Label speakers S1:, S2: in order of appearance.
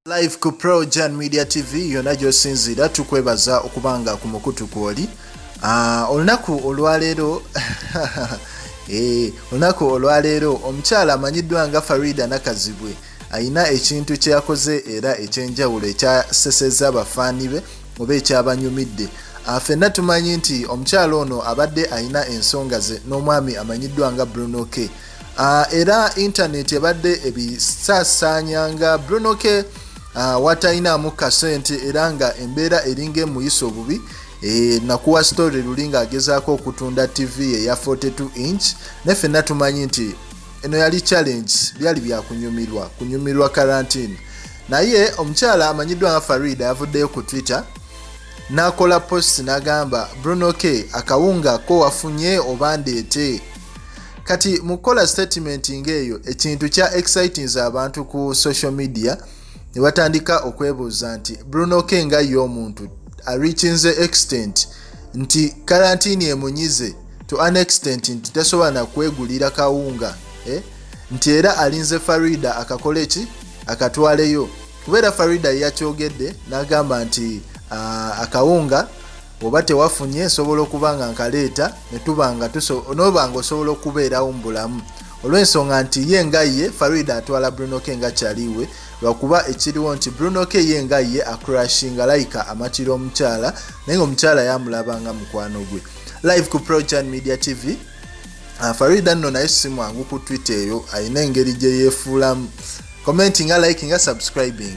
S1: live ku projan media tv yonna gyosinziira tukwebaza okubanga ku mukutu kwoli ah, olunaku olwaleero eh, olunaku olwaleero omukyala amanyiddwa nga farida nakazibwe alina ekintu kye yakoze era ekyenjawulo ekyaseseza abafaani be oba ekyabanyumidde ah, fenna tumanyi nti omukyalo ono abadde alina ensonga ze n'omwami amanyiddwa nga bruno k ah, era intaneti ebadde ebisaasaanya nga bruno k ah, watalinaamu kasente era nga embeera eringa emuyisa obubi eh, nakuwa story luli ng'agezaako okutunda tv ye ya 42 inch ne fenna tumanyi nti eno yali challenge byali byakunyumirwa kunyumirwa karantine naye omukyala amanyiddwa nga farida yavuddeyo ku twitter n'akola post n'agamba bruno k akawunga ko wafunye oba ndeete kati mu kukola statement ng'eyo ekintu kya excitings abantu ku social media ne batandika okwebuuza nti bruno k nga ye omuntu arikinze extent nti karantini emunyize to an extent nti tasobola nakwegulira kawunga eh? nti era alinze farida akakole ki akatwaleyo kubeera farida yakyogedde nagamba nti uh, akawunga oba tewafunye nsobola okuba nga nkaleeta netubanga noba nga osobola okubeerawo mubulamu olwensonga nti ye nga ye farida atwala bruno ke nga kyaliwe lwakuba ekiriwo nti bruno ke ye nga ye akrashinga layika amakira omukyala naye nga omukyala yamulaba nga mukwano gwe live ku projan media tv uh, farida nno naye si mwangu ku twitter eyo alina engeri gye yeefuulamu commenti nga like nga subscribing